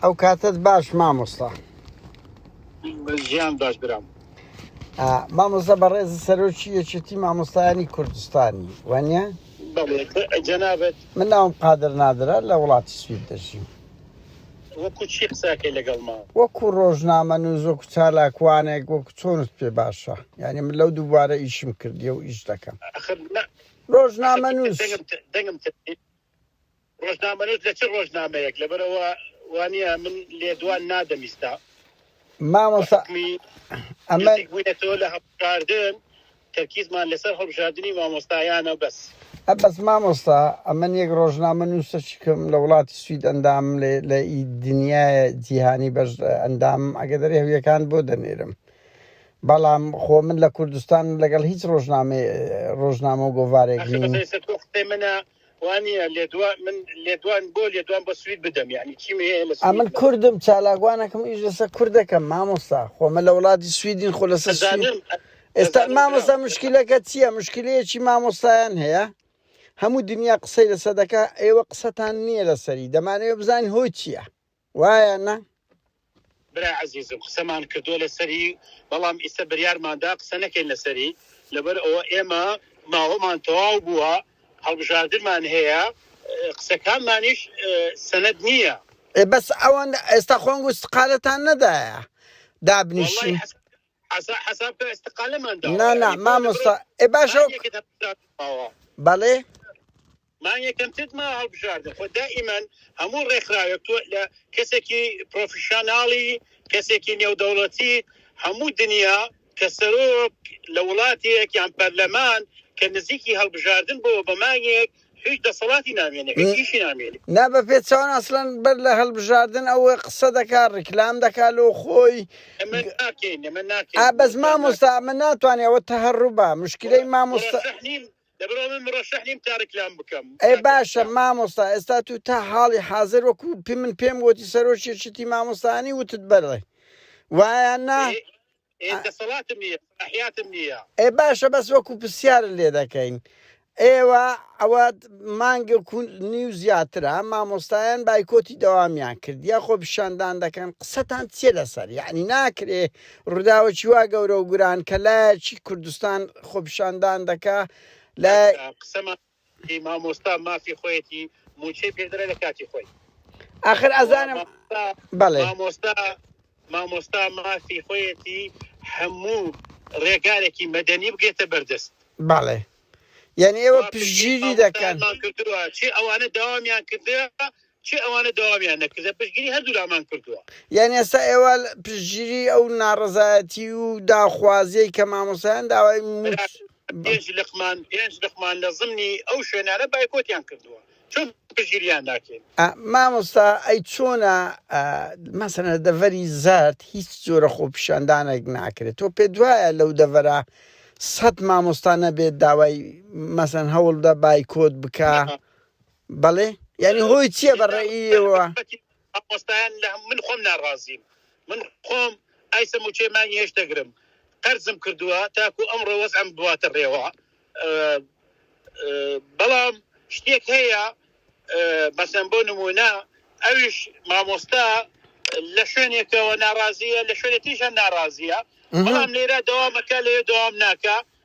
ئەو کاتت باش مامۆستا ژیان باش برام مامۆستا بەڕێزی سەرۆکی یەکێتی مامۆستایانی کوردستانی وانە جەنابەت من ناوم قادر نادرە لە وڵاتی سوید دەژیم وەکو چی قساکەی لەگەڵما وەکو ڕۆژنامە نوزۆک و چالاکوانێک وەکو چۆنت پێ باشە یعنی من لەو دووبارە ئیشم کردیە و ئیش دەکەم ڕۆژنامە نووس ڕۆژنامەنووس لە چ ڕۆژنامەیەک لەبەرئەوە وانە من لێدوان نادەم ئیستا مامۆسا ئەمە بوویەتەوە لە هەڵبژاردن تەرکیزمان لەسەر هەڵبژاردننی مامۆستایانە بەس بەس مامۆستا ئەمن یەک ڕۆژنامە نووسەچی کەم لە وڵاتی سوید ئەندام لێ لە ئی دنیاە جیهانی بەش ئەندام ئەگە دەری هەویەکان بۆ دەنێرم بەڵام خۆ من لە کوردستان لەگەڵ هیچ ڕۆژنامە ڕۆژنامە و گۆوارێک منە وانیە لێدوان من لێدوان بۆ لێدوان بە سوید بدەم یعنی چیم هەیە لە سوید ئەمن کوردم چالاکوانەکەم ئیش لەسەر کوردەکەم مامۆستا خۆمە لە وڵاتی سویدین خۆ لەسەر ئێستا مامۆستا مشکلەکە چییە مشکلەیەکی مامۆستایان هەیە هەموو دنیا قسەی لەسەر دەکە ئێوە قسەتان نییە لەسەری دەمانەوە بزانین هۆی چییە وایە نا؟ برای عەزیزم قسەمان کردووە لەسەری بەڵام ئیستە بریارماندا قسە نەکەین لەسەری لەبەر ئەوە ئێمە ماوەمان تەواو بووە هەڵبژاردنمان هەیە قسەکانمانیش سەند نییە. ئێ بەس ئەوەندە ئێستا خۆنگ و سقالتان نەدایە دابنیشین. حساب کە استقالەمان داوە نا نا مامۆستا ئێ باشە بەڵێ مان یەکەم تت ما هەڵبژاردە خۆ دائیمەن هەموو ڕێکخراوێک تۆ لە کەسێکی پرۆفیشانناڵی کەسێکی نێودەوڵەتی هەموو دنیا کە سەرۆک لە وڵاتێک یان پەرلەمان کە نزیکی هەڵبژاردن بۆ بەمانیەک هیچ دەسەڵاتی نامێنێ هیچ هیچی نامێنێ نا بە پێ چاوان ئەسلەن بەر لە هەلبژاردن ئەوە قسە دەکا ڕیکلام دەکا لۆ خۆی بەس مامۆستا ئەمە ناتوانێت ئەوە تەهڕوبا مشکلەی مامۆستا ئەی باشە مامۆستا ئێستا تو تا حاڵی حاضر وەکو پێ من پێم وتی سەرۆکی شتی مامۆستانی وتت بەرڵێ وایە نا ئێ دەسەڵاتم نییە سەلاحیاتم نییە ئێ باشە بەس وەکو پرسیارت لێ دەکەین ئێوە ئەوە مانگە کون نیو زیاترە مامۆستایان بایکۆتی دەوامیان کرد یا خۆ پیشاندان دەکەن قسەتان چیە لەسەر یعنی ناکرێ ڕووداوەکی وا گەورە و گوران کە لایەکی کوردستان خۆپیشاندان دەکا لە قسەمان ی مامۆستا مافی خۆیەتی موچەی پێدرێ لە کاتی خۆی ئاخر ئەزانم بەڵێ مامۆستا مامۆستا مافی خۆیەتی هەموو ڕێگارێکی مەدەنی بگێتە بەردەست بەڵێ یعنی ئێوە پژگیری دەکەن چی ئەوانە داوامیان کردێ چی ئەوانە دەوامیان نەکردە پشتگیری هەردوولامان کردووە. یانی ئێستا ئێوە پشتگیری ئەو ناڕەزایەتی و داخوازیەی کە مامۆسایان داوای موچ پێنج لقمان پێنج لقمان لە زمنی ئەو شوێنانە بایکۆتیان کردووە چۆن پشتگیریان ناکەین مامۆستا ئەی چۆنە مەسەنە دەڤەری زارد هیچ جۆرە خۆپیشاندانێک ناکرێت تۆ پێ دوایە لەو دەڤەرە سەد مامۆستانە بێت داوای مەسەن هەوڵدا بایکۆت بکە بەڵێ یانی هۆی چییە بە ڕێیەوە ئەپۆستایان لە من خۆم ناڕازیم من خۆم ئایسە موچێ مانگی هێش دەگرم قەرزم کردووە تاکو ئەم ڕۆوەز ئەم بواتە ڕێوە بەڵام شتێک هەیە بەسەن بۆ نمونە ئەویش مامۆستا لە شوێنێکەوە ناڕازیە لە شوێنێتیشە ناڕازیە بەڵام لێرە دەوامەکە لێ دەوام ناکە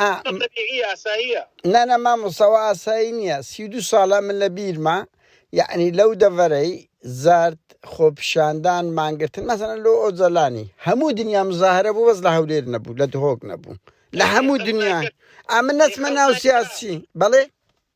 ئەمە بەدیهی ئاساییە. نا نا مامۆستا ئەوە ئاسایی نییە سی و دوو ساڵە من لە بیرمە یەعنی لەو دەڤەرەی زارت خۆپیشاندان مانگرتن مەسەلەن لۆ ئۆجەلانی هەموو دنیا مزاهرە بوو بەس لە هەولێر نەبوو لە دهۆک نەبوو لە هەموو دنیا ئەمن نەچمە ناو سیاسی بەڵێ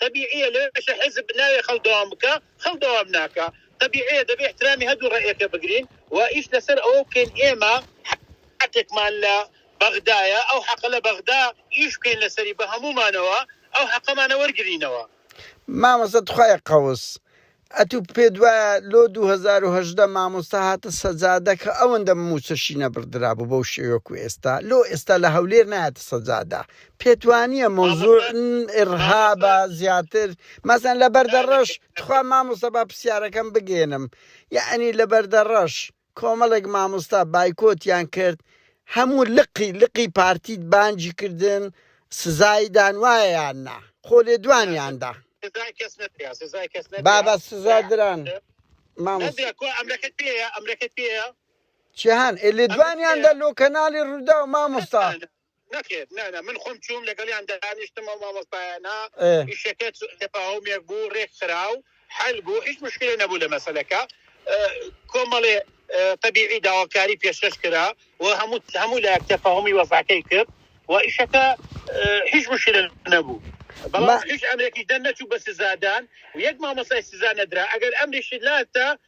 تەبیعیە لەوێشە حیزب ناوێ خەڵک دەوام بکا خەڵک دەوام ناکا تەبیعیە دەبێ احترامی هەدوو ڕەئیەکە بگرین و ئیش لەسەر ئەوە بکەین ئێمە حەقێکمان لە بەغدایە ئەو حەقە لە بەغدا ئیش بکەین لەسەری بە هەموومانەوە ئەو حەقەمانە وەرگرینەوە. مامۆستا تخوایە قەوس ئەتو پێت وایە لۆ دوو هەزار و هەژدە مامۆستا هاتە سەجادە کە ئەوەندە مووچەشی نەبڕدرابوو بەو شێوەیە وەکو ئێستا لۆ ئێستا لە هەولێر نایەتە سەجادە پێت وانییە مەوزوع ئڕهابە زیاتر مەسەن لە بەردەڕەش تخوا مامۆستا با پرسیارەکەم بگێنم یعنی لە بەردەڕەش کۆمەڵێک مامۆستا بایکۆتیان کرد هەموو لقی لقی پارتیت بانگی کردن سزایی دان وایە یان نا خۆ لێدوانیان دا بابە سزا دران چیان لێدوانیان دا لۆ کەناڵی ڕووداو مامۆستا نەخێر نا نا من خۆم چووم لەگەڵیان دانیشتم ئەو مامۆستایانە ئێ ئیشەکە چ- تەفاهمێک بوو ڕێک خرا و حل بوو هیچ مشکلە نەبوو لە مەسەلەکە ئە، کۆمەڵێ ئە، تەبیعی داواکاری پێشکەش کرا و هەموو هەموو لایەک تەفاهمی وەزعەکەی کرد و ئیشەکە ئە، هیچ مشکلە نەبوو ما بەڵام هیچ ئەمرێکیش دەرنەچوو بە سزادان و یەک مامۆستای سزا نەدرا ئەگەر ئەمریشی لاتە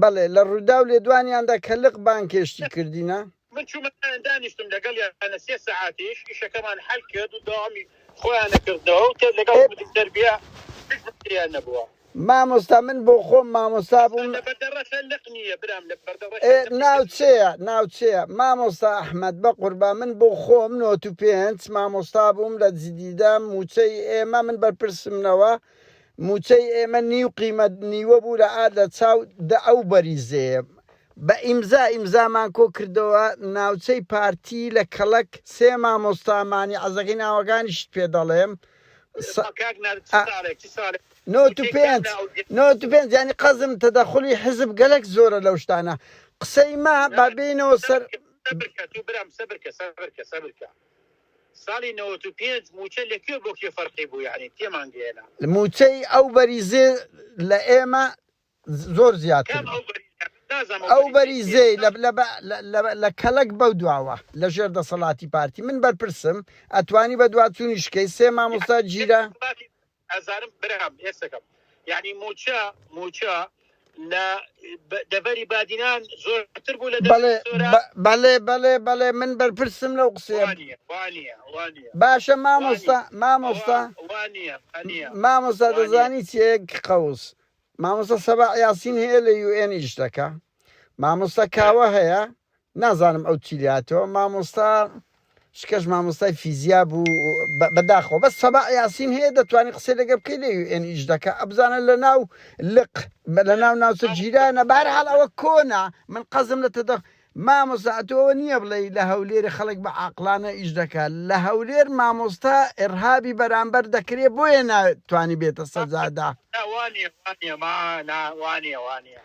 بەڵێ لە ڕووداو لێدوانیاندا کە لق بانگهێشتی کردینە. من چوومە لایان دانیشتم لەگەڵیان سێ سەعاتیش ئیشەکەمان حەل کرد و دەوامی خۆیانە کردنەوە و تێر لەگەڵ مدیر تەربیە هیچ مشکلیان نەبووە. مامۆستا من بۆ خۆم مامۆستا بووم. ئەمە لە بەردە ڕەشە لق نییە برام لە بەردە ڕەشە لقی تەنیشت. ناوچەیە ناوچەیە مامۆستا ئەحمەد بەقوربان من بۆ خۆم نۆتو پێنج مامۆستا بووم لە جدیدە مووچەی ئێمە من بەرپرسم نەوە موچەی ئێمە نیو قیمەت نیوە بوو لە ئا لە چاو دە ئەو بەریزەیە بە ئیمزا ئیمزامان کۆ کردەوە ناوچەی پارتی لە کەڵەک سێ مامۆستا مانی عەزەکەی ناوەکانیشت پێ دەڵێم سە کاک نەر چ ساڵێک چ ساڵێک نۆت و وتەی کام پێنج لە ئەو جێ نۆت و پێنج یانی قەزم تەدەخولی حیزب گەلەک زۆرە لەو شتانە قسەی مە با نەبا بێینەوە سەر سەبرکە سەبرکە تو برام سەبرکە سەبرکە سەبرکە ساڵی نەوەت و پێنج مووچە لە کوێ بۆ کوێ فەرقی بوو یانی تێمان گەیەنە. مووچەی ئەو بەریزێ لە ئێمە زۆر زیاتر بوو ئەو بەریزێ لە کەلەک بەو دواوە لە ژێر دەسەڵاتی پارتی من بەرپرسم ئەتوانی بە دواچوونی شکەی سێ مامۆستا گیرا. ئەزانم برام هێستەکەم یعنی موچە موچە لە دەڤەری بادینان زۆرتر بوو لە بەڵێ بەڵێ بەڵێ بەڵێ من بەرپرسم لەو قسەیە باشە مامۆستا مامۆستا مامۆستا دەزانی چێک قەوس مامۆستا سەبا یاسین هەیە لە یوئێن ئیش دەکە مامۆستا کاوە هەیە نازانم ئەو چی لاتەوە مامۆستا شکەش مامۆستای فیزیا بوو بەداخەوە بەس سەبا یاسین هەیە دەتوانانی قسە لەگە بکەی لە ئەن ئیش دەکە ئەبزانە لە ناو لق لە ناو ناوچە جیرانە بار هەڵ ئەوە کۆنا من قەزم لە تەدەخ مامۆستاتەوە نییە بڵێ لە هەولێری خەڵک بە عقلانە ئیش دەکات لە هەولێر مامۆستا ئێرهابی بەرامبەر دەکرێت بۆیە ناتوانانی بێتە سەزادا وانە وانە وانە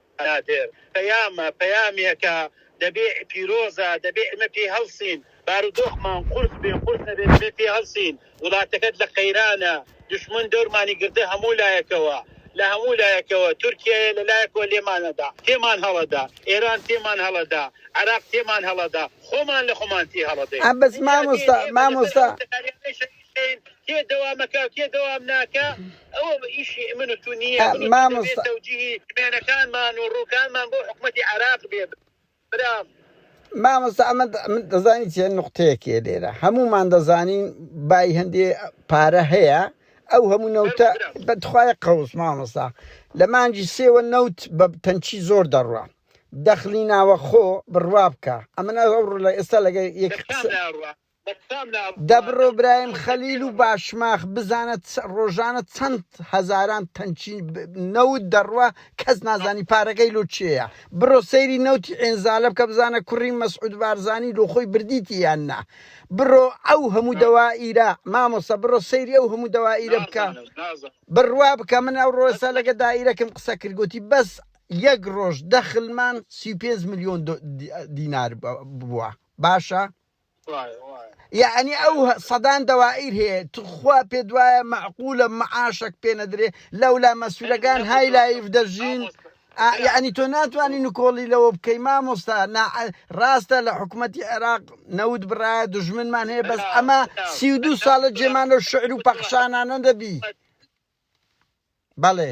نادر، پەیامە، پەیامێکە دەبێ پیرۆزە، دەبێ ئێمە پێی هەڵسین، بارودۆخمان قورس بێ قورس نەبێ دەبێ پێی هەڵسین، وڵاتەکەت لە قەیرانە، دوشمن دەورمانی گرتە هەموو لایەکەوە، لە هەموو لایەکەوە، تورکیایە لە لایەکەوە لێمان ئەدا، تێمان هەڵەدا، ئێران تێمان هەڵەدا، عێراق تێمان هەڵەدا، خۆمان لە خۆمان تێ هەڵەدەین. ئینجا دێن ئێمە لەسەر ئەو تەلارانەی شەهید. کێ دەوا مەکاو کێ دەوام ناکە ئەوە بە ئیشی ئمن و تو نییە مامۆستەوجیهی بێنەکانمان و ڕووکانمان بۆ حکوومەتتی عراق بێ برام مامۆستا ئەمە من دەزانین چێن نقطەیەکێ لێرە هەمومان دەزانین بای هەندێ پارە هەیە ئەو هەموو نەوتە بەتخوای قەوس مامۆستا لە مانجی سێوە نەوت بە تەنچی زۆر دەڕە دەخلی ناوە خۆ بڕوا بکە ئەمە ئەو ڕ لە ئێستا لەگە یەک دەبڕۆ برایم خەلیل و باشماخ بزانە ڕۆژانە چەند هەزاران تەنکی نەوت دەڕوا کەس نازانی پارەکەی لۆ کێیە بڕۆ سەیری نەوتی ئێنزالە بکە بزانە کوڕی مەسعود بارزانی لۆ خۆی بردیتی یان نا بڕۆ ئەو هەموو دەوائیرە مامۆستا بڕۆ سەیری ئەو هەموو دەوائیرە بکە بڕوا بکە من ئەو ڕۆسا لەگە دایرەکەم قسە کردگوتی بەس یەک ڕۆژ دەخلمان سی پێنج ملیۆن دینار بووە باشە یەعنی ئەو سەدان دەوائیر هەیە تخوا پێت وایە مەعقولە معاشەک پێ نەدرێ لەولا مەسولەکان های لایف دەژین ئا، یەعنی تۆ ناتوانانی نکۆڵی لەوە بکەی مامۆستا نا ڕاستە لە حکوومەتتی عێراق نەوت بڕایە دژمنمان هەیە بەس ئەمە سی و دوو ساڵە جێمانە و شعر و پەخشانانە دەبی بەڵێ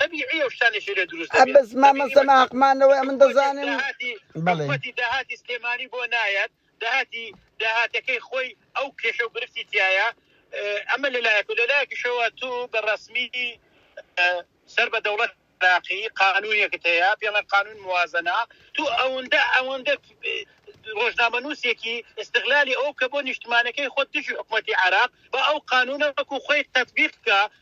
تەبیعیە و شتانێکی لێ دروست دەبێت. بەس مامۆستا ما حەقمانەوەی ئەمن دەزانم حکومەتی داهاتی سلێمانی بۆ نایەت داهاتی داهاتەکەی خۆی ئەو کێشە و گرفتی تایە ئەمە لەلایەک و لەلایەکیشەوە تو بە ڕسمی سەر بە دەوڵەت عراقی قانونێکت هەیە پێڵە قانون موازنە تو ئەوەندە ئەوەندە ڕۆژنامە نووسێکی استغلالی ئەو کە بۆ نیشتمانەکەی خۆ دژی حکوومەتتی عراق بە ئەو قانونە وەکو خۆی تەبیقکە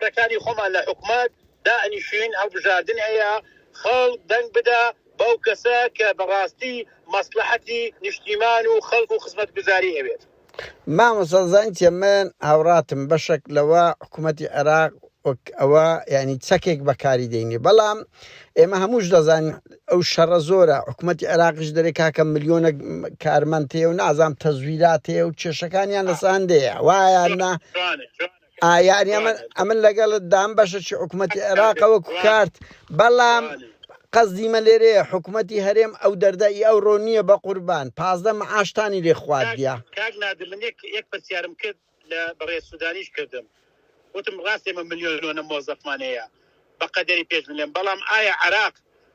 کەسانی خۆمان لە حکومەت دائەنیشین هەڵبژاردن هەیە خەڵک دەنگ بدا بەو کەسە کە بەڕاستی مەسڵەحەتی نیشتیمان و خەڵک و خزمەتگوزاری ئەوێت. مامۆستا زانیتە من هاوڕاتم بەشەک لەوە حکومەتی عێراق وەک ئەوە یعنی چەکێک بەکاری دەینێ بەڵام ئێمە هەمووش دەزانین ئەو شەڕە زۆرە حکوومەتتی عێراقش دەرێ کاکە ملیۆنە کارمەندەیە و نازام تەزویراتەیە و کێشەکانیان لەسان دەیە وایە نا ئا یانی ئەمن بەڵێ ئەمن لەگەڵت دام بەشە چی حکوومەتتی عێراقە وەکو بەڵێ کارت بەڵام بەڵێ قەزدیمە لێرەیە حکوومەتتی هەرێم ئەو دەردە ئی ئەو ڕۆ نییە بە قوربان پازدە معاشتانی لێ کاک خواردە کاک نادر من یەک یەک پرسیارم کرد لە بەڕێز سودانیش کردم وتم ڕاست ئێمە ملیۆنۆنە مۆزەفمان هەیە بە قەدەری پێش ملێن بەڵام ئایا عراق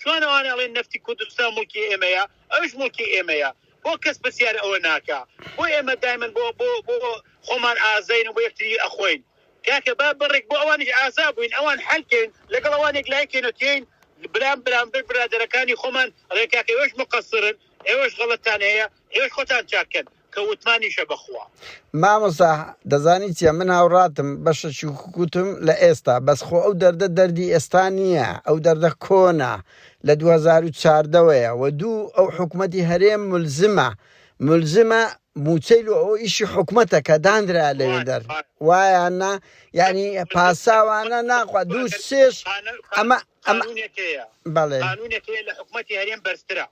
چۆن ئەوان ئەڵێن نەفتی کوردستان موڵکی ئێمەیە ئەوش موڵکی ئێمەیە بۆ کەس پرسیار ئەوە ناکا بۆ ئێمە دایمن بۆ بۆ بۆ خۆمان ئازین و بۆ یەکتری ئەخۆین کاکە با بڕێک بۆ ئەوانیش ئازا بووین ئەوان حلکەین لەگەڵ ئەوانێک لایکەینەتیین برام برامبر برادەرەکانی خۆمان ڕێکاکەوەش مقەسرن ئێوەش غەڵەتان هەیە ئێوەش خۆتان چاک کەن کە وتمانیشە بەخوا. مامۆستا دەزانی چیە من هاوڕاتم بەشە چوکوتم لە ئێستا بەس خۆ ئەو دەردە دەردی ئێستا نییە ئەو دەردە کۆنە لە 2014 وەیە و دوو ئەو حکومەتی هەرێم ملزمە ملزمە موچەی لۆ ئەو ئیشی حکومەتە کە دانرا لەوێ دەر وایاننا یعنی پاساوانە ناخوا دوو سێش ئەمە ئەمە بەڵێ لە حکومەتی هەرێم بەرزترە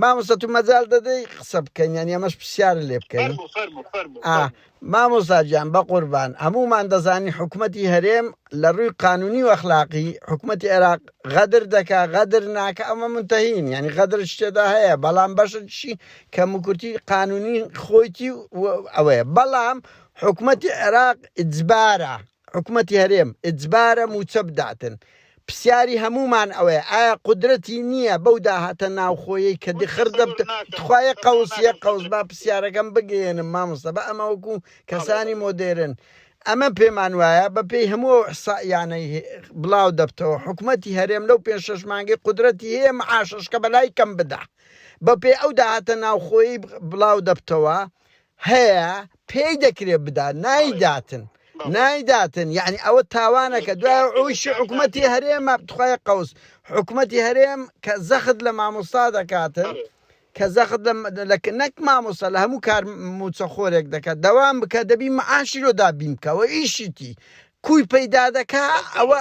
مامۆستا تو مەجال دەدەی قسە بکەین یان ئەمەش پرسیارە لێ بکەین مامۆستا گیان بە قوربان هەمومان دەزانی حکوومەتتی هەرێم لە ڕووی قانونی و ئەخلاقی حکوومەتتی عێراق غەدر دەکا غەدر ناکە ئەمە منتەهین ینی غەدر شتێدا هەیە بەڵام بەشتشی کە مکورتی قانونی خۆیتی ئەوەیە بەڵام حکوومەتتی عێراق ئجبارە حکومەتی هەرێم ئجبارە موچە بداتن پسیاری هەمومان ئەوەیە ئایا قودرەتی نیە بەو داهاتە ناوخۆیەی کە دخر دەبت تخوا یەک قەوس یەک قەوس با پسیارەکەم بگەیەنم مامۆستا بە ئەمە وەکو کەسانی مۆدێرن ئەمە پێمان وایە بە پێی هەموو ئەو احسائیانەی بلاو دەبتەوە حکومەتی هەرێم لەو پێنج شەش مانگەی قودرەتی هەیە معاشەشکە بەلای کەم بدا بە پێی ئەو داهاتە ناوخۆیەی بلاو دەبتەوە هەیە پێی دەکرێت بدات نایداتن نایداتن یعنی ئەوە تاوانەکە دوای ئەوش حکوومەتی هەرێمە بتخوای قوس حکوومەتی هەرێم کە زەخت لە مامۆستا دەکاتن کە زەخت نەک مامۆستا لە هەموو کار موچە خۆرێک دەکات دەوام بکە دەبی معاشی لۆ دابین بکەوە ئیشیتی کوی پەیدا دەکا ئەوە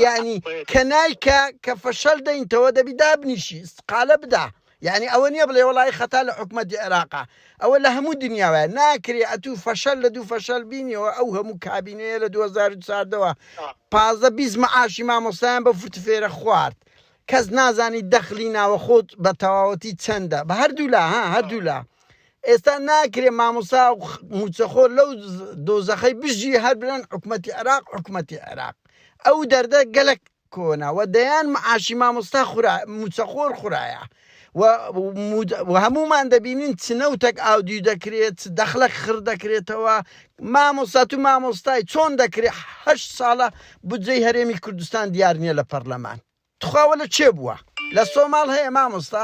ینی کە نایکە کە فەشەل دەینتەوە دەبی دابنیشی قالە بدا یەعنی ئەوە نیە بڵێ وەڵایی خەتا لە حکومەتی عێراقە ئەوە لە هەموو دنیا وایە ناکرێ ئەتوو فەشەل لە دوو فەشەل بینیەوە ئەو هەموو کابینەیە لە دوو هەزار و چواردەوە پازدە بیست مەعاشی مامۆستایان بە فرت فێرە خوارد کەس نازانی دەخلی ناوەخۆت بە تەواوەتی چەندە بە هەردوولا ها هەردوولا ئێستا ناکرێ مامۆستا و خ- موچەخۆر لەو دۆزەخەی بژی هەر برن حکومەتی عێراق حکومەتی عێراق ئەو دەردە گەلک کۆنە وە دەیان معاشی مامۆستا خورا موچەخۆر خورایە و و هەموومان دەبینین چ نەوتەک ئاودیو دەکرێت چ دەخلەک خڕ دەکرێتەوە مامۆستا تو مامۆستای چۆن دەکرێت هەشت ساڵە بودجەی هەرێمی کوردستان دیار نییە لە پەرلەمان تخوا وەلە چێ بووە لە سۆماڵ هەیە مامۆستا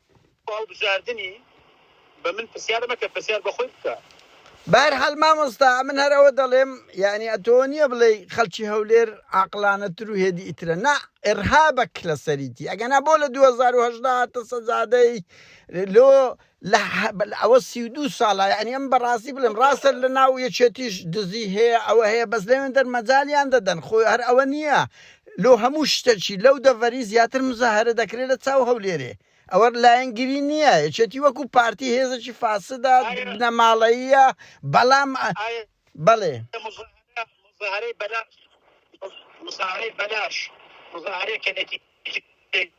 پاڵ بژاردنی بە من پرسیار مەکە پرسیار بە خۆی بکە. بەهەرحال مامۆستا ئەمن هەر ئەوە دەڵێم یانی ئەتۆ نیە بڵێی خەڵکی هەولێر عاقڵانەتر و هێدی ئیترە نا ئێڕهابەک لەسەریتی ئەگەنا بۆ لە دوو هەزار و هەژدە هاتە سەجادەی لۆ لە ئەوە سی و دوو ساڵە یانی ئەم بەڕاستی بڵێم ڕاستە لە ناو یەکێتیش دزی هەیە ئەوە هەیە بەس لەوێندەر مەجالیان دەدەن خۆ هەر ئەوە نیە لۆ هەموو شتەکی لەو دەڤەری زیاتر مزاهەرە دەکرێ لە چاو هەولێرێ ئەوە لایەنگری نیە یەکێتی وەکو پارتی هێزەکی فاسدە بنەماڵەییە بەڵام بەڵێ. مزاهەرەی بەلاش مزاهەرەی بەلاش مزاهەرەی کە نەتیجەی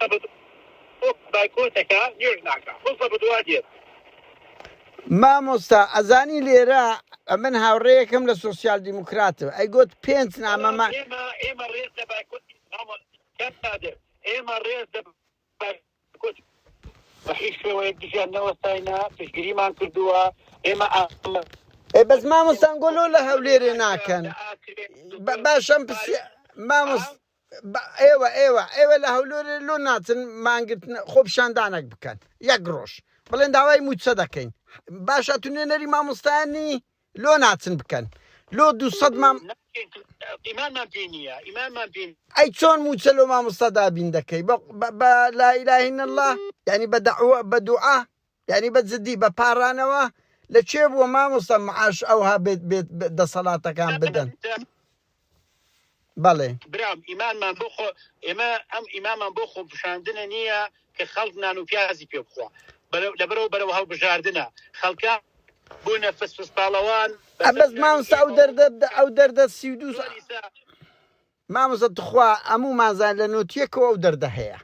قسە بە تۆ بایکۆتەکە نوێژ ناکا قسە بەدوا دێت. مامۆستا ئەزانی لێرە ئەمن هاوڕێیەکەم لە سۆسیال دیموکراتەوە ئەی گوت پێنج نامەمە ئێمە ڕێز لە ئێمە ڕێز لە بەحی شێوەیە دژیان نەوەستاینا پشگیریمان کردووە ئێمە ئێ بەس مامۆستان گۆلۆ لە هەولێرێ ناکەن باشم پرسی مامۆست بە ئێوە ئێوە ئێوە لە هەولێر لۆ ناچن مانگرتن خۆپیشاندانەک بکەن یەک ڕۆژ بڵێن داوای موچە دەکەین باشە تو نوێنەری مامۆستایانی لۆ ناچن بکەن لۆ دوو سەد مام ئیمانمان پێ نییە ئیمانمان پێ ئەی چۆن موچە لۆ مامۆستا دابین دەکەی بە بە- بە لا اله الا الله یعنی بە دعوە بە دوعا یانی بە جدی بە پارانەوە لە کوێ بووە مامۆستا معاش ئەوها بێت بێت دەسەڵاتەکان بدەن بەڵێ برام ئیمانمان بۆ خۆ ئێمە ئەم ئیمامان بۆ خۆ پیشاندنە نییە کە خەڵک نان و پیازی پێ بخوا لەبەرەوە بەرەوە هەڵبژاردنە خەڵکە بۆ نەفس پسپاڵەوان بەس مامسا ئەو دەردە ئەو دەردە سی و دوو مامۆسە تخوا ئەموو مازان لە نوتیەکەوە ئەو دەردە هەیە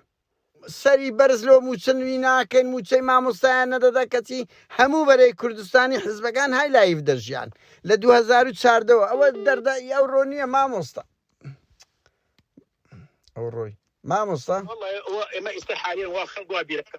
سەری بەرز لۆ موچە نوی ناکەین موچەی مامۆستایان نەدەدا کەچی هەموو بەرەی کوردستانی حزبەکان های لایڤ دەژیان لە دوو هەزار و چاردە وە ئەوە دەردە ی ئەوڕۆ نیە مامۆستا ئەوڕۆی مامۆستا والله ئێمە ئیستا حالیا وا خەڵک وا بیرەکە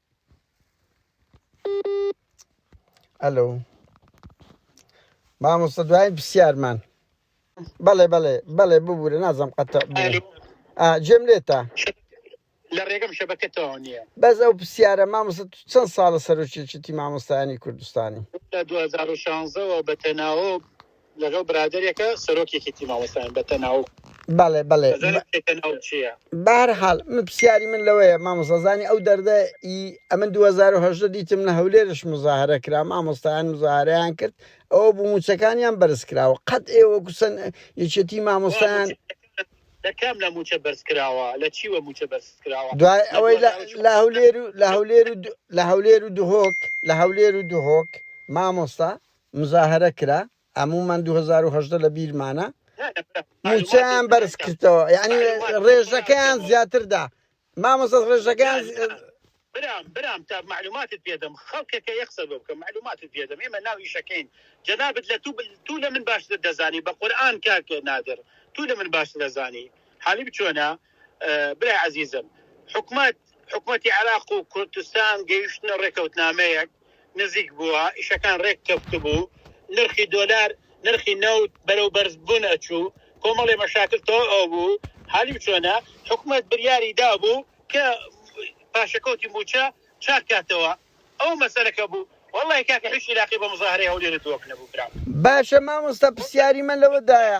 ئەلو مامۆستا دوایین پرسیارمان بەڵێ بەڵێ بەڵێ ببوورە نازم قەت جێم لێتە لە ڕێگەم شەبەکەتەوە نییە بەس ئەو پرسیارە مامۆستا چەند ساڵە سەرۆکێکیتی مامۆستایانی کوردستانی لە 2016ەوە بە تەناوە لەگەڵ برادەرێکە سەرۆک یەکێتی مامۆستایان بە تەناوب بەڵێ بەڵێ ئەزانم کێ تەناوب چییە. بە هەر حاڵ من پرسیاری من لەوەیە مامۆستا زانی ئەو دەردە ی ئەمن دوو هەزار و هەژدە دیتم لە هەولێرش مزاهرە کرا مامۆستایان مزاهرەیان کرد ئەوە بوو مووچەکانیان بەرز کراوە قەت ئێوە وەکوو سەن یەکێتی وا مامۆستایان موچە لە کام لە موچە بەرز کراوە لە چی وە موچە بەرز کراوە دوای لە ئەوەی لە 2014 لە هەولێر و لە هەولێر و دو- لە هەولێر و دهۆک لە هەولێر و دهۆک مامۆستا مزاهەرە کرا هەموومان دوو هەزار و هەژدە لە بیرمانە موچەیان بەرز کردەوە یعنی ڕێژەکەیان زیاتردا مامۆستا ڕێژەکەیان برام برام تا معلوماتت پێدەم خەڵکەکە یەک قسە بۆ بکەم معلوماتت پێدەم ئێمە ناو ئیشەکەین جەنابت لە تو تو لە من باشتر دەزانی بە قورآن کاک نادر تو لە من باشتر دەزانی حالی بچۆنە برای عزیزم حکومت حکومەتی عێراق و کوردستان گەیشتنە ڕێکەوتنامەیەک نزیک بووە، ئیشەکان ڕێک کەفتبوو، نرخی دۆلار نرخی نەوت بەرەو بەرز بوون ئەچوو، کۆمەڵێ مەشاکل تەواو ئەبوو، حالی چۆنە؟ حکومەت بریاری دابوو کە پاشەکەوتی مووچە چاک کاتەوە، ئەوە مەسەلەکە بوو، وەڵڵاهی کاکە هیچ عیلاقی بە مزاهەرەی هەولێرت بۆ نەبوو برام. باشە مامۆستا پرسیاری من لەوە دایە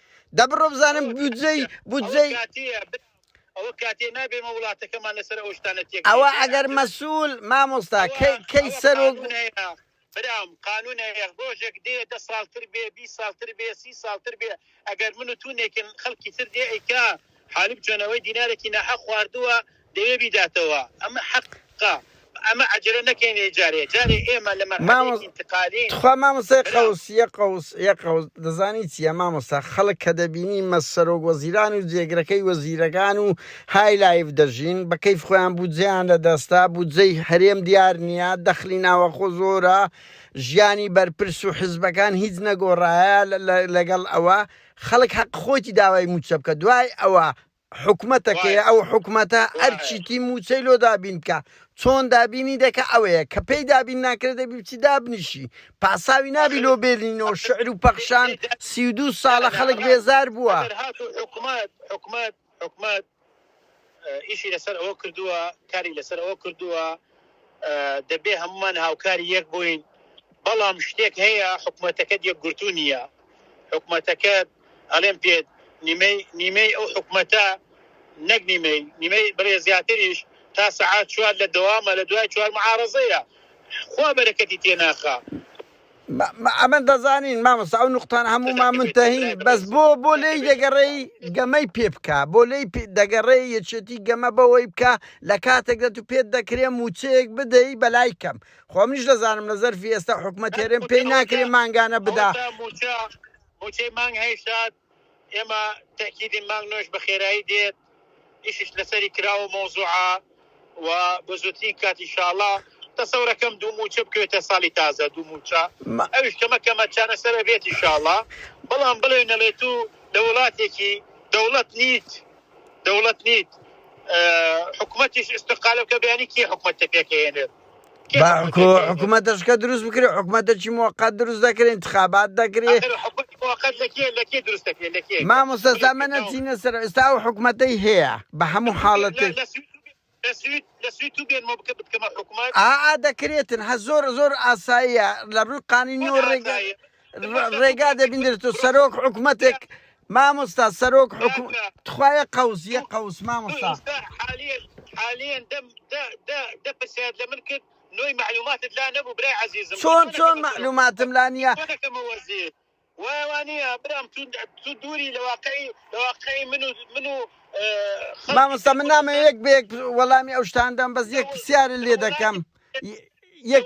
دە بڕۆ بزانم بودجەی بودجەی ئەوە کاتێ نابێمە وڵاتەکەمان لەسەر ئەو شتانە تێک ئەوە ئەگەر مەسوول مامۆستا کەی سەرۆک برام قانون هەیە ڕۆژێک دێ دە ساڵتر بێ بی ساڵتر بێ سی ساڵتر بێ ئەگەر من و تونێکن خەڵکی تر دێ ئەیکا حالب جۆنەوەی دینارێکی ناحە خواردووە دەوێ بیداتەوە ئەمە حەقە ئەمە عەجەلە نەکەینێ جارێ جارێ ئێمە لە مەرحەلەی ئینتقالین. تخوا مامۆستای قەوس یە قەوس یە قەوس دەزانی چیە مامۆستا خەڵک کە دەبینی مە سەرۆک وەزیران و جێگرەکەی وەزیرەکان و های لایڤ دەژین بە کەیف خۆیان بودجەیان لە دەستە بودجەی هەرێم دیار نیە دەخلی ناوەخۆ زۆرە ژیانی بەرپرس و حزبەکان هیچ نەگۆڕایە لەگەڵ ئەوە خەڵک حەق خۆیتی داوای موچە بکە دوای ئەوە حکومەتەکەیە ئەو حکومەتە ئەرچیتی موچەی لۆ دابین بکە چۆن دابینی دەکە ئەوەیە کە پێی دابین ناکرێت دەبی بچی دابنیشی پاساوی نابی لۆ بێلینەوە شعر و پەخشان سی و دوو ساڵە خەڵک بێزار بووە ئەگەر هاتو حکومەت حکومەت حکومەت ئیشی لەسەر ئەوە کردووە کاری لەسەر ئەوە کردووە دەبێ هەموومان هاوکاری یەک بووین بەڵام شتێک هەیە حکومەتەکەت یەکگرتوو نییە حکومەتەکەت ئەڵێم پێت نیمەی نیمەی ئەو حکومەتە نەک نیمەی نیمەی بڵێ زیاتریش تا سەعات چوار لە دەوامە لە دوای چوار معارەزەیە خوا بەرەکەتی تێناخا ئەمە دەزانین مامۆستا ئەو نقطانە هەموومان منتەهین بەس بۆ بۆ لێی دەگەڕێی گەمەی پێ بکە بۆ لێی دەگەڕێ یەچێتی گەمە بەوەی بکە لە کاتێکدا تو پێت دەکرێ موچەیەک بدەی بەلای کەم خۆ منیش دەزانم لە زەرفی ئێستا حکومە تێرێن پێی ناکرێ مانگانە بدا موچەی مانگ هەیشت ئێمە تەئکیدین مانگ نۆش بە خێرایی دێت ئیشیش لەسەری کراوە مەوزوعە و بە زووترین کات ان شاء اللە تەسەورەکەم دوو مووچە بکەوێتە ساڵی تازە دوو مووچە ما ئەویش کەمە کەمە چارەسەر ئەبێت ان شاء اللە بەڵام بڵێ نەڵێ تو لە وڵاتێکی دەوڵەت نیت دەوڵەت نیت ئە حکومەتیش ئیستقالە بکە بیانی کێ حکومەت تە پێکەهێنێت با حکوومەتەشکە دروست بکرێ حکوومەتەکی موقعات دروست دەکرێن انتخابات دەکرێ مامۆستا من نەچینە سەر ئێستا و حکوومەتەی هەیە بە هەموو حاڵەتێک ئا دەکرێتن هە زۆر زۆر ئاساییە لە ڕووی قانینی و ڕێگە ڕێگا دەبینێت و سەرۆک حکوومەتێک مامۆستا سەرۆک حکوومەت تخوایە قەوزیە قەوس مامۆستا دەپرسیات لە من کرد نوۆی معلوماتت لا نەبوو برای عزیزم چۆن چۆن معلوماتم لا نییە وایوانە برام تو دووری لە واقعی لە واقعی من و من و مامۆستا من نامە یەک بێک وەڵامی ئەو شتاندەم بەس یەک پرسیارە لێ دەکەم یەک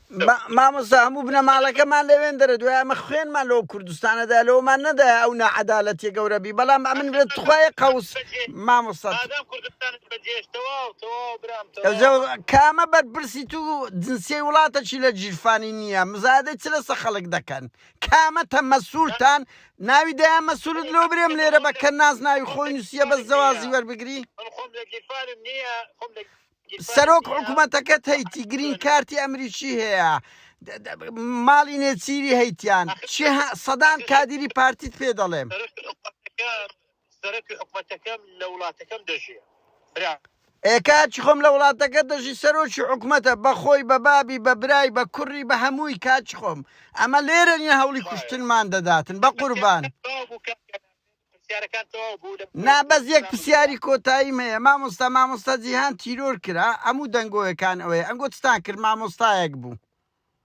مامۆستا هەموو بنەماڵەکەمان لەوێن دەرە دوای ئەمە خوێنمان لەو کوردستانەدا لەومان نەدایە ئەو نەعەدالەتیە گەورە بی بەڵام ئەمن بێت توخوای قەوس مامۆستا ئادەم کوردستان بەجێش تەواو تەواو برام تەواو. ئەوجە کامە بەرپرسی تو جنسیەی وڵاتەکی لە جیرفانی نییە مزادەی چ لەسە خەڵک دەکەن کامەتە مەسوولتان ناوی دەیان مەسوولت لۆ برێم لێرە بە کەناز ناوی خۆی نووسیە بەس جەوازی وەربگری من خۆم لە گیرفانم نییە خۆم لە سەرۆک حکوومەتەکەت هەیتی گرین کارتی ئەمریکی هەیە ماڵی نێچیری هەیتیان چی سەدان کادیری پارتیت پێ دەڵێم سەرکی حکوومەتەکەم لە وڵاتەکەم دەژێ برا ئێکاچی خۆم لە وڵاتەکە دەژی سەرۆکی حکوومەتە بەخۆی بە بابی بە برای بە کوڕی بە هەمووی کاچ خۆم ئەمە لێرە نیە هەوڵی کوشتنمان دەداتن بە قوربان پرسیارەکان تەواو بوو لە نا بەس یەک پرسیاری کۆتاییم هەیە مامۆستا مامۆستا جیهان تیرۆر کرا ئەموو دەنگۆیەکان ئەوەیە ئەنگۆ چتان کرد مامۆستایەک بوو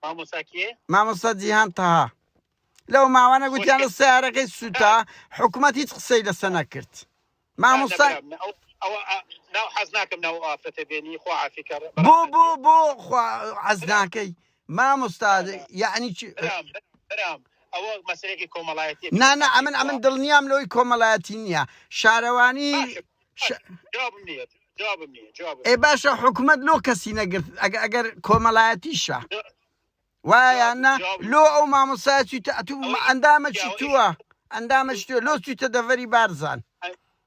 مامۆساکیێ مامۆستا جیهان تەها لەو ماوانە گوتیان لە سیارەکەی سووتا حکوومەت هیچ قسەی لەسە نەکرد مامۆستا ناو حەز ناکەم ناو ئافرەتە بێنی خۆ عافیکە بۆ بۆ بۆ حەز ناکەی مامۆستا یەعنی چ؟ برام برام ئەوە مەسەلێکی کۆمەڵایەتیە نا نا ئەمن ئەمن دڵنیام لەوەی کۆمەڵایەتی نییە شارەوانی جوابم نییە جوابم نییە جواب ئێ باشە حکومت لۆ کەسی نەگرت ئەگە ئەگەر کۆمەڵایەتیشە وایە نا لۆ ئەو مامۆسا چیتە ئەتوو ئەندامە چی تووە ئەندامە چی لۆ چیتە دەڤەری بارزان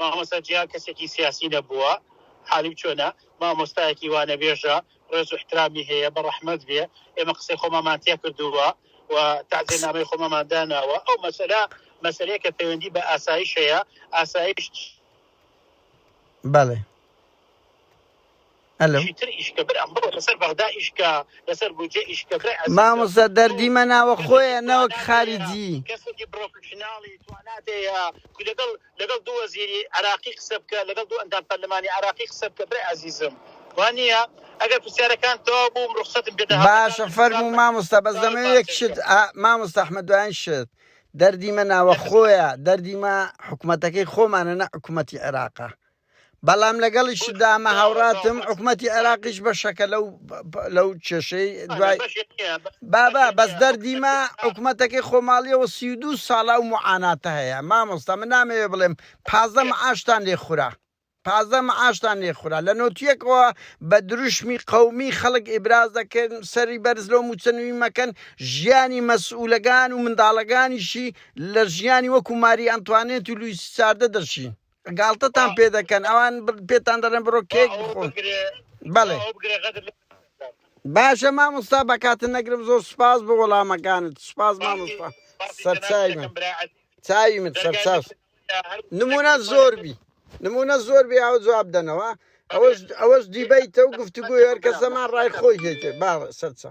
مامۆستا جیهان کەسێکی سیاسی نەبووە حالی چۆنە مامۆستایەکی وانەبێژە ڕێز و احترامی هەیە بەڕەحمەت بێ ئێمە قسەی خۆمامان تێ کردووە و تعزێ نامەی خۆمەمان داناوە ئەو مەسەلا مەسەلەیە کە پەیوەندی بە ئاسایش هەیە ئاسایش بەڵێ ئەلۆ. مامۆستا دەردی مە ناوە خۆیە نەوەک خاری جی. باشە فەرموو مامۆستا بەس دەمەوێ یەک شت ئا مامۆستا ئەحمەد دوایین شت دەردی مە ناوە خۆیە دەردی مە حکومەتەکەی خۆمانە نە حکومەتی عێراقە بەڵام لەگەڵیشدا ئەمە هاوڕاتم حکومەتی عێراقیش بەشەکە لەو لەو کێشەی دوای بابا بەس دەردیمە حکوومەتەکەی خۆماڵیەوە سی و دوو ساڵا و معاناتە هەیە مامۆستا من نامەوێ بڵێم پازدە معاشتان لێ خورا پازدە معاشتان لێ خورا لە نۆتیەکەوە بە دروشمی قەومی خەڵک ئیبراز دەکەن سەری بەرز لۆ موچەنوی مەکەن ژیانی مەسئولەکان و منداڵەکانیشی لە ژیانی وەکو ماری ئەنتوانێت و لویسی چاردە دەشین گاڵتەتان پێ دەکەن ئەوان پێتان دەڵێن بڕۆ کێک بخۆن بەڵێ باشە مامۆستا بەکاتە نەگرم زۆر سپاس بۆ وەڵامەکانت سپاس مامۆستا سەرچای من چاوی من سەرچاو نمونە زۆر بی نمونە زۆر بێ ئەو جواب دەنەوە ئەوەش ئەوەش دیبیتە و گفتوگوی هەر کەسەمان ڕای خۆی هێتێ با سەرچە